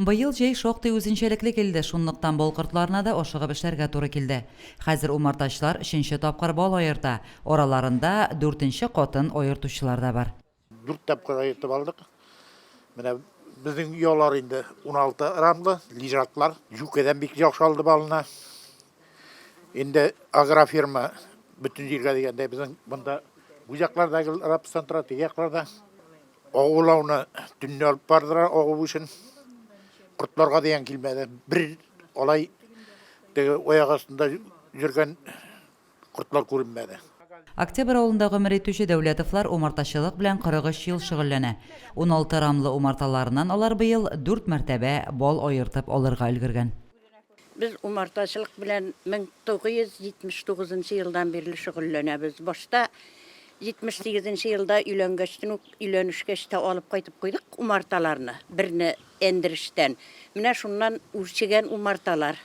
Быел җәй шактый үзенчәлекле килде, шунлыктан бал кортларына да ашыгып эшләргә туры килде. Хәзер умартачылар өченче тапкыр бал аерта, араларында дүртенче катын аертучылар да бар. Дүрт тапкыр аертып алдык. Менә безнең оялар инде уналты рамлы, лежаклар. Җүкәдән бик яхшы алды балны. Инде агрофирма бөтен җиргә дигәндәй, безнең монда бу яклар да гел рапс тантыра, теге яклар да. Агу лауны төнне алып бардыра агу өчен. Кортларга дигән килмәде. Бер алай теге аяк астында йөргән кортлар күренмәде. Октябрь авылында гомер итүче Дәүләтовлар умартачылык белән 43 ел шөгыльләнә. Уналты рамлы умарталарыннан алар быел дүрт мәртәбә бал аертып алырга өлгергән. Без умартачылык белән 1979 нчы елдан бирле шөгыльләнәбез. Башта 78 нчы елда өйләнгәчтен үк, өйләнешкәч тә алып кайтып куйдык умарталарны, берне Әндрештән. Менә шуннан үрчегән умарталар.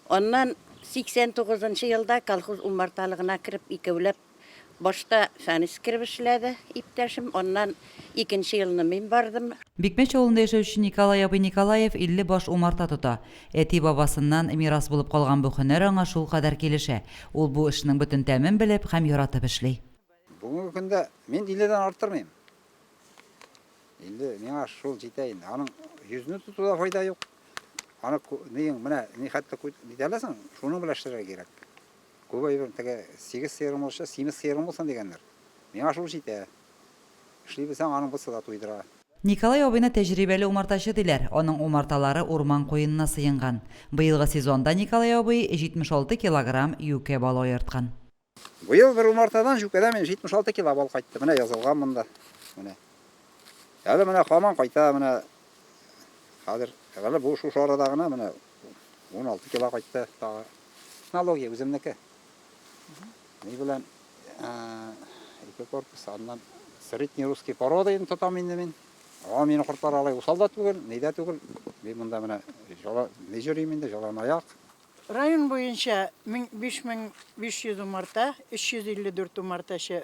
Аннан 89 нчы елда колхоз умарталыгына кереп, икәүләп Башта Фәнис кереп эшләде, иптәшем, аннан икенче елны мин бардым. Бикмәч авылында яшәүче Николай абый Николаев 50 баш умарта тота. Әти-бабасыннан мирас булып калган бу һөнәр аңа шулкадәр килешә, ул бу эшнең бөтен тәмен белеп һәм яратып эшли. Бүгенге көндә мин 50 дән арттырмыйм. 50, миңа шул җитә инде. Аның йөзне тотуда файда юк. Аны, менә, нихәтле итәләсең, шуның белән эшләргә кирәк. Күп әйбер теге сигез сыерың булса, симез сыерың булсын дигәннәр. Миңа шул җитә. Эшли белсәң, аның бусы да туйдыра. Николай абыйны тәҗрибәле умартачы диләр, аның умарталары урман куенына сыенган. Быелгы сезонда Николай абый 76 килограмм юкә бал аерткан. Быел бер умартадан, җүкәдән мин 76 кило бал кайтты. Менә язылган монда. Менә. Әле менә хаман кайта, менә хәзер, әле бу шушы арада гына менә 16 кило кайтты тагы. Технология үземнеке. Ни белән ике корпус, аннан средний русский порода инде тотам инде мин. Аңа мине кортлар алай усал да түгел, ни дә түгел. Мин монда менә жала не җөрим инде, жалан аяк. Район буенча 5500 умарта, 354 умартачы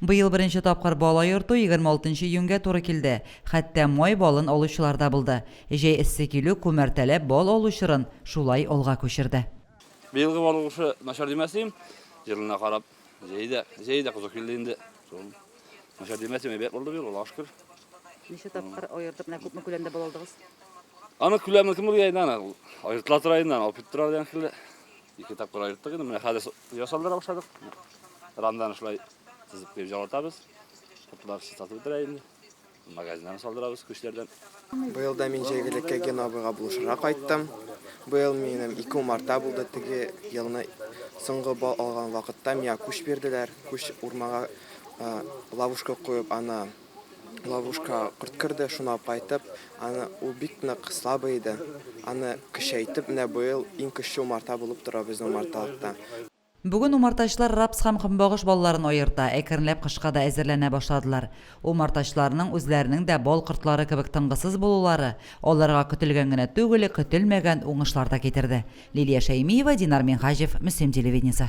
Быел беренче тапкыр бала йорту егерме алтынчы июньгә туры килде. Хәтта май балын алучылар да булды. Җәй эссе килү күмәртәләп бал алу чорын шулай алга күчерде. Быелгы бал уңышы начар димәс идем. Елына карап, җәй дә, җәй дә кызу килде инде. Шул начар димәс идем, әйбәт булды быел, Аллага шөкер. Ничә тапкыр аердык, менә күпме күләмдә бал алдыгыз? Аның күләмен кем белгән инде аны, ул аертыла тора инде, аны алып китеп тора дигән шикелле. Ике тапкыр аерттык инде, менә хәзер ясалдыра башладык. Рамнан шулай тезеп куеп җаватабыз. Куртлар чистартып бетерә инде. Магазиннан салдырабыз күчләрдән. Быел да мин җәйгелеккә Ген абыйга булышырга кайттым. Быел минем ике умарта булды. Теге елны соңгы бал алган вакытта миңа күч бирделәр. Күч урмага ловушка куеп, аны ловушка корт керде, шуны алып кайтып, аны ул бик нык слабый иде. Аны көчәйтеп, менә быел иң көчле умарта булып тора безнең умарталыкта. Бүген умартачылар рапс һәм көнбагыш балларын аерта, әкренләп кышка да әзерләнә башладылар. Умартачыларның үзләренең дә бал кортлары кебек тынгысыз булулары аларга көтелгән генә түгел, көтелмәгән уңышлар да китерде. Лилия Шәймиева, Динар Минһаҗев, Мөслим телевидениесе.